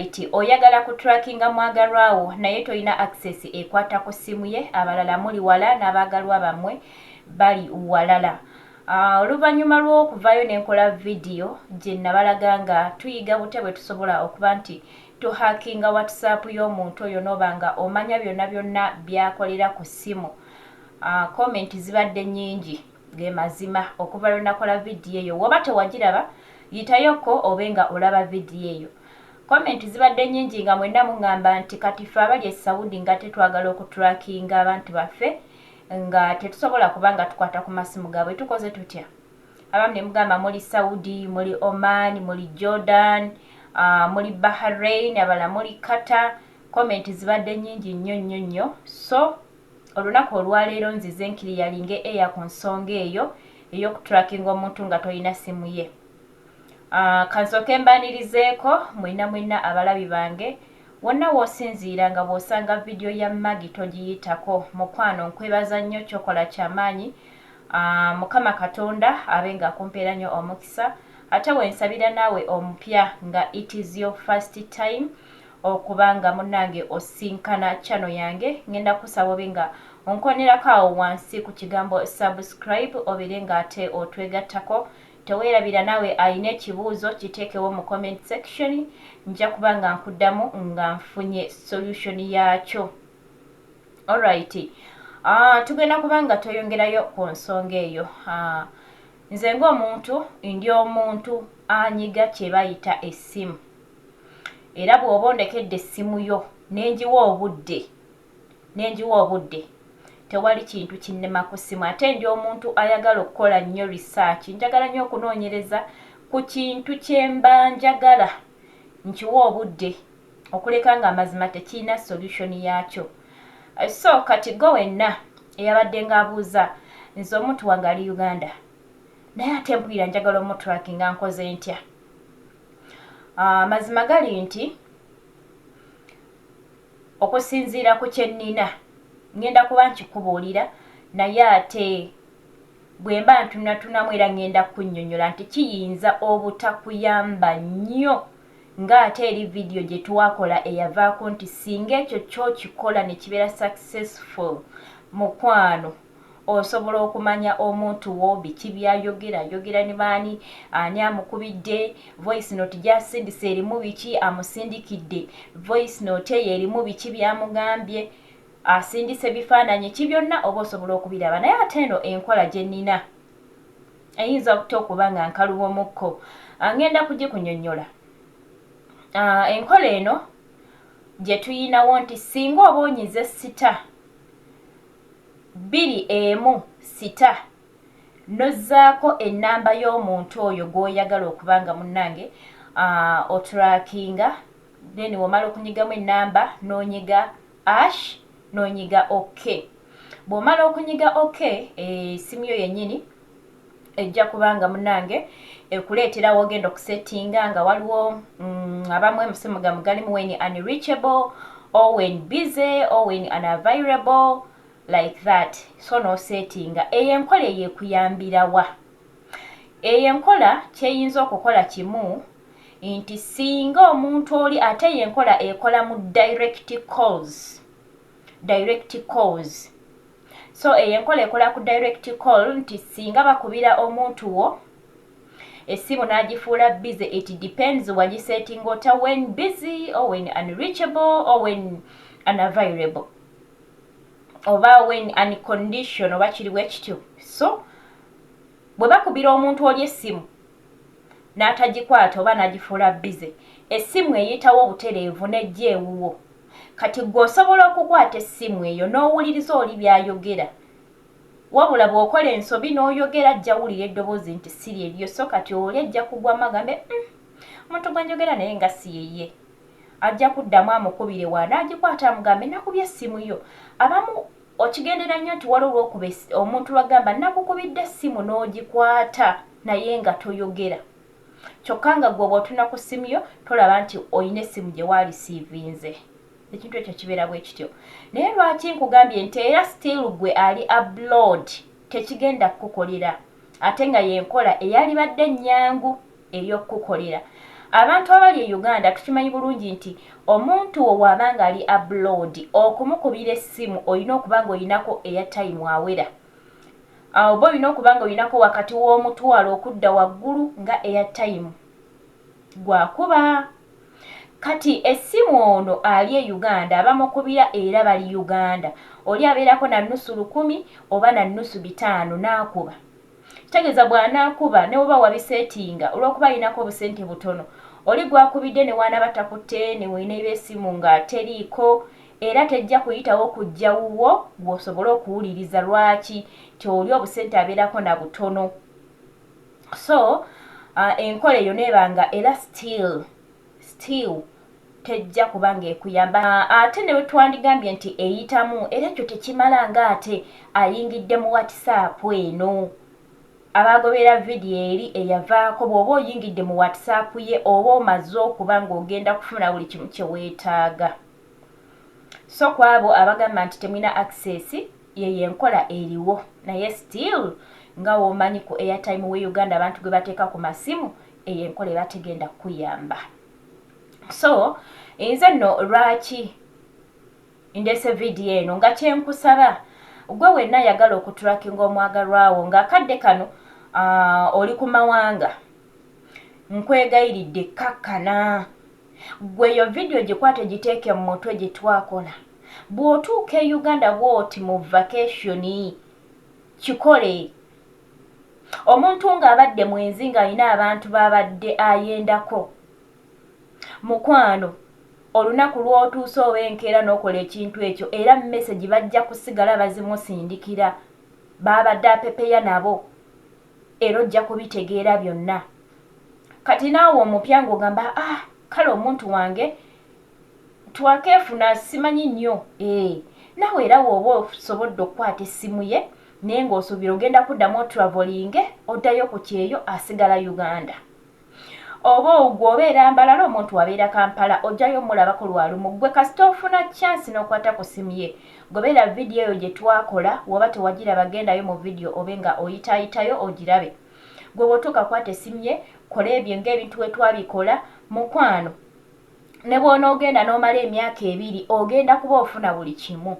Kati oyagala ku trackinga mwagalwa wo naye tolina access ekwata ku simu ye abalala muli wala nabagalwa bamwe bali walala ah, oluvanyuma lwokuvayo nenkola video jenabalaga nga tuyiga butya bwetusobola okuba nti tuhakinga whatsapp yomuntu oyo noba nga omanya byonna byonna byakolera ku simu ah, comment zibadde nyingi Ge mazima. Okuva lwe nakola vidiyo eyo. Woba tewagiraba, yitayo ko obe nga olaba vidiyo eyo. Comment zibadde nnyingi nga mwenna mungamba nti kati ffe abali e Saudi ngate twagala oku trackinga abantu baffe nga tetusobola kuba nga tukwata ku masimu gaabwe. Tukoze tutya? Abamu ne mugamba muli Saudi, muli Oman, muli Jordan, uh, muli Bahrain, abala muli Qatar. Comment zibadde nnyingi nnyo nnyo nnyo. So, Olunaku olwaleero nzize nkiliyalinge air ku nsonga eyo eyoku trackinga omuntu nga tolina simu ye. Aah kansooke mbaanirizeeko mwena mwena abalabi bange wonna wosinziira nga bwosanga video ya Maggie togiyitako mukwano nkwebaza nnyo kyokola kyamaanyi aah mukama katonda abe nga akumpeeranyo omukisa ate wensabira naawe omupya nga it is your first time okuba nga munange osinkana channel yange ngenda kusaba obe nga onkonerako awo wansi ku kigambo subscribe obere nga ate otwegattako tewerabira nawe alina ekibuuzo kiteekewo mu comment section nja kuba nga nkuddamu nga nfunye solution yaakyo alright uh, tugenda kuba nga tweyongerayo ku nsonga eyo uh, nze ngaomuntu ndi omuntu anyiga kyebayita essimu era bw'oba ondekedde essimu yo ne ngiwa obudde ne ngiwa obudde tewali kintu kinnema ku ssimu ate ndi omuntu ayagala okukola nnyo research njagala nnyo okunoonyereza ku kintu kye mba njagala nkiwa obudde okuleka ng'amazima tekirina solution yaakyo eh, so kati go wenna eyabadde ng'abuuza nze omuntu wange ali uganda naye ate mpulira njagala omutraki nga nkoze ntya Ah, mazima gali nti okusinziira ku kyennina ŋŋenda kuba nkikubuulira naye ate bwe mba ntunatunamu era ŋŋenda kukunnyonnyola nti kiyinza obutakuyamba nnyo ng'ate eri vidiyo gye twakola eyavaako nti singa ekyo kyokikola ne kibeera successful mukwano Osobola okumanya omuntu wo biki byayogera, yogera ne baani, ani amukubidde voice note gyasindise erimu biki, amusindikidde voice note eyo erimu biki byamugambye, asindise bifaananyi ki byonna oba osobola okubiraba naye ate eno enkola gye nnina eyinza okuta okuba nga nkalubomukko ngenda kugikunyonyola. Ah, enkola eno gye tuyinawo nti singa oba onyize sita bbiri emu sita n'ozzaako ennamba y'omuntu oyo gw'oyagala okuba nga munnange oturakinga then w'omala okunyigamu ennamba n'onyiga ash n'onyiga ok. Bw'omala okunyiga ok essimu yo yennyini ejja kuba nga munange ekuleetera wogenda okusettinga nga waliwo mm, abamu emusimu gamu galimu wen unreachable or wen busy or wen unavailable like that so nosettinga eyo enkola eyo ekuyambirawa eyo enkola kyeyinza okukola kimu nti singa omuntu oli ate eyo enkola ekola mu direct calls direct calls so eyo enkola ekola ku direct call nti singa bakubira omuntu wo esimu n'agifuula busy it depends wagisetinga ota when busy or when unreachable or when unavailable oba when uncondition oba kiriwo ekityo so Bwe bakubira omuntu oli essimu n'atagikwata oba n'agifuula bbize, essimu eyitawo butereevu n'ejja ewuwo. Kati ggwe osobola okukwata essimu eyo n'owuliriza oli by'ayogera. Wabula bw'okola ensobi n'oyogera ajja wulira eddoboozi nti si lye lyo so kati oli ajja kugwamu agambe, Uhm, omuntu gwe njogera naye nga si ye ye. Ajja kuddamu amukubire wa n'agikwata amugambe, Nakubye essimu yo. Abamu. Okigendera nnyo nti waliwo lwokuba ess omuntu lwagamba nakukubidde essimu n'ogikwata naye nga toyogera kyokka nga gwe bwotuna ku ssimu yo tolaba nti olina essimu gye waalisiivinze ekintu ekyo kibeera bwe kityo naye lwaki nkugambye nti era still gwe ali abroad tekigenda kukukolera ate nga yenkola eyalibadde ennyangu. eby'okukukolera. Abantu abali e Uganda tukimanyi bulungi nti omuntu wo waaba nga ali abroad okumukubira essimu olina okuba nga olinako eya time awera. Awo oba olina okuba nga olinako wakati w'omutwalo okudda waggulu nga eya time gwakuba. Kati essimu ono ali e Uganda abamukubira era bali Uganda. Oli abeerako na nnusu lukumi oba na nnusu bitaano n'akuba. Kitegeeza bw'anaakuba ne bw'oba wabiseetinga olw'okuba alinako obusente butono oli gw'akubidde ne w'anaaba takutte ne weenayiba essimu nga teriiko era tejja kuyitawo kujja wuwo ggwe osobole okuwuliriza lwaki nti oli obusente abeerako na butono so enkola eyo n'eba nga era still still tejja kuba ng'ekuyamba ate ne bwe twandigambye nti eyitamu era ekyo tekimala ng'ate ayingidde mu WhatsApp eno. Abaagoberera vidiyo eri eyavaako bw'oba oyingidde mu WhatsApp ye oba omaze okuba ng'ogenda kufuna buli kimu kye weetaaga. So ku abo abagamba nti temulina access yeyo enkola eriwo naye still nga womanyi ku airtime we Uganda abantu gwe bateeka ku masimu eyo enkola eba tegenda kukuyamba. so nze nno lwaki ndese vidiyo eno nga kyenkusaba gwe wenna yagala okuturakinga omwagalwawo ng'akadde kano uh, oli ku mawanga nkwegayiridde kakkana gweyo vidiyo gikwate giteeke mu mutwe gye twakola bw'otuuka e uganda bwoti mu vakationi kikole Omuntu ng'abadde mwenzi ng'alina abantu b'abadde ayendako, mukwano, olunaku lw'otuuse oba enkeera n'okola ekintu ekyo era mesegi bajja kusigala bazimusindikira b'abadde apepeya nabo era ojja kubitegeera byonna. Kati naawe omupya ng'ogamba ah kale omuntu wange twakeefuna simanyi nnyo, eeh, naawe era w'oba osobodde okukwata essimu ye, Naye nga osubira ogenda kudamu otravolinge odayo ku kyeyo asigala Uganda oba ogwo obeera mbalala omuntu abeera kampala ojayo mulabako lwalumu gwe kasita ofuna chance nokwata ku simu ye gobera video eyo gyetwakola woba tewagiraba gendayo mu video obe nga oyitayitayo ogirabe gwe bwotuuka kwata esimu ye kola ebyo nga ebintu wetwabikola mukwano ne bw'onoogenda n'omala emyaka ebiri ogenda kuba ofuna buli kimu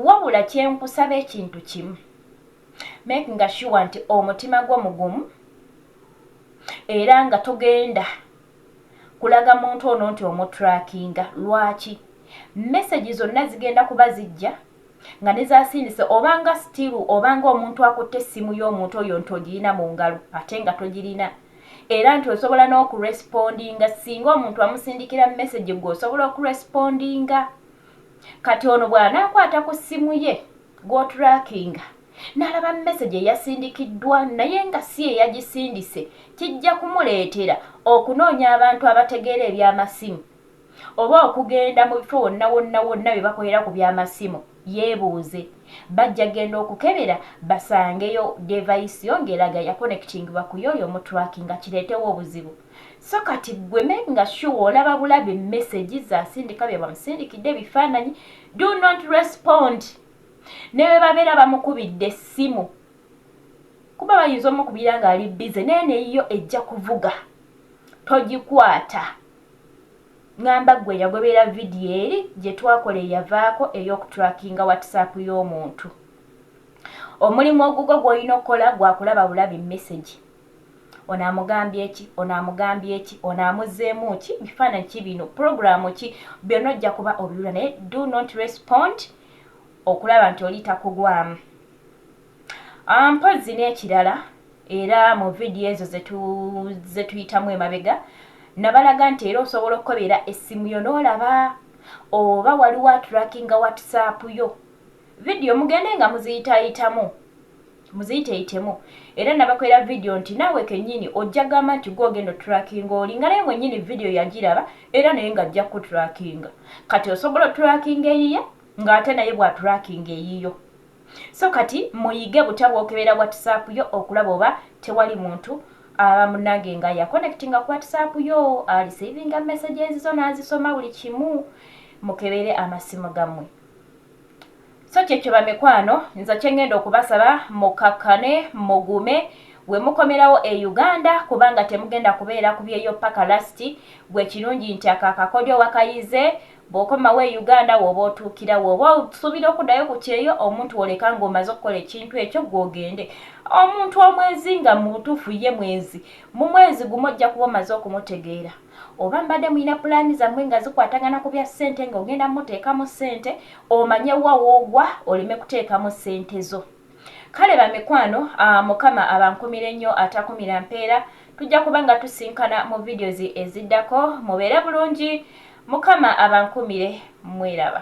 wabula kye nkusaba ekintu kimu make nga shuwa nti omutima gwo mugumu era nga togenda kulaga muntu ono nti omutrakinga lwaki mesegi zonna zigenda kuba zijja nga nezasindise oba nga still oba nga omuntu akutte essimu y'omuntu oyo nti ogiyina mu ngalo ate nga togirina era nti osobola n'okurespondinga singa omuntu amusindikira message gwe osobola okurespondinga kati ono bw'anaakwata ku ssimu ye gw'otrakinga n'alaba message eyasindikiddwa naye nga si eyagisindise kijja kumuleetera okunoonya abantu abategeera eby'amasimu Oba okugenda mu bifo wonna wonna wonna bye bakolera ku by'amasimu, yeebuuze, Bajja kugenda okukebera basangeyo devayisi yo ng'eraga yakonekitingibwa ku y'oyo omuturakinga kireetewo obuzibu? So kati ggwe me nga sure olaba bulabi mesegi z'asindika bye bamusindikidde ebifaananyi? Do not respond ne bwe babeera bamukubidde essimu kuba bayinza omukubira ng'ali bbize naye ne yo ejja kuvuga, togikwata. Ngamba ggwe eyagobera vidiyo eri gye twakola eyavaako ey'okutrackinga WhatsApp y'omuntu. Omulimu ogugwo gw'olina okukola gwa kulaba bulabi mmesegi. Ono amugambye ki? Ono amugambye ki? Ono amuzzeemu ki? Bifaananyi ki bino? Pulogulaamu ki? Byonna ojja kuba obiwula naye do not respond okulaba nti oli takugwamu. Ah, mpozzi n'ekirala era mu vidiyo ezo ze tuyitamu emabega nabalaga nti era osobola okukobera essimu yo n'olaba oba waliwo aturakinga watisaapu yo vidiyo mugende nga muziyitayitamu muziyiteyitemu era nabakolera vidiyo nti naawe kennyini ojja gamba nti gwe ogenda oturakinga oli nga naye mwennyini vidiyo yagiraba era naye nga ajja kukuturakinga kati osobola oturakinga eyiye ng'ate naye bw'aturakinga eyiyo So kati muyige butya bwokebera whatsapp yo okulaba oba tewali muntu aba munange nga ya connectinga ku whatsapp yo ali savinga messages zo nazisoma buli kimu mukebere amasimu gamwe so kyekyo bamikwano nza kyengenda okubasaba mukakkane mugume wemukomerawo e uganda kubanga temugenda kubeera kubyeyo paka lasti gwe kirungi nti akakakodyo wakayize Bw'okomawo e Uganda w'oba otuukira, w'oba osuubira okuddayo ku kyeyo, omuntu w'oleka ng'omaze okukola ekintu ekyo ggwe ogende. Omuntu omwezi nga mu butuufu ye mwezi, mu mwezi gumu ojja kuba omaze okumutegeera. Oba mbadde mulina pulaani zammwe nga zikwatagana ku bya ssente ng'ogenda mmuteekamu ssente, omanye wa w'ogwa oleme kuteekamu ssente zo. Kale bamikwano mukama abankumire nyo atakumira mpeera tujja kuba nga tusinkana mu videos eziddako mubeere bulungi mukama abankumire mweraba.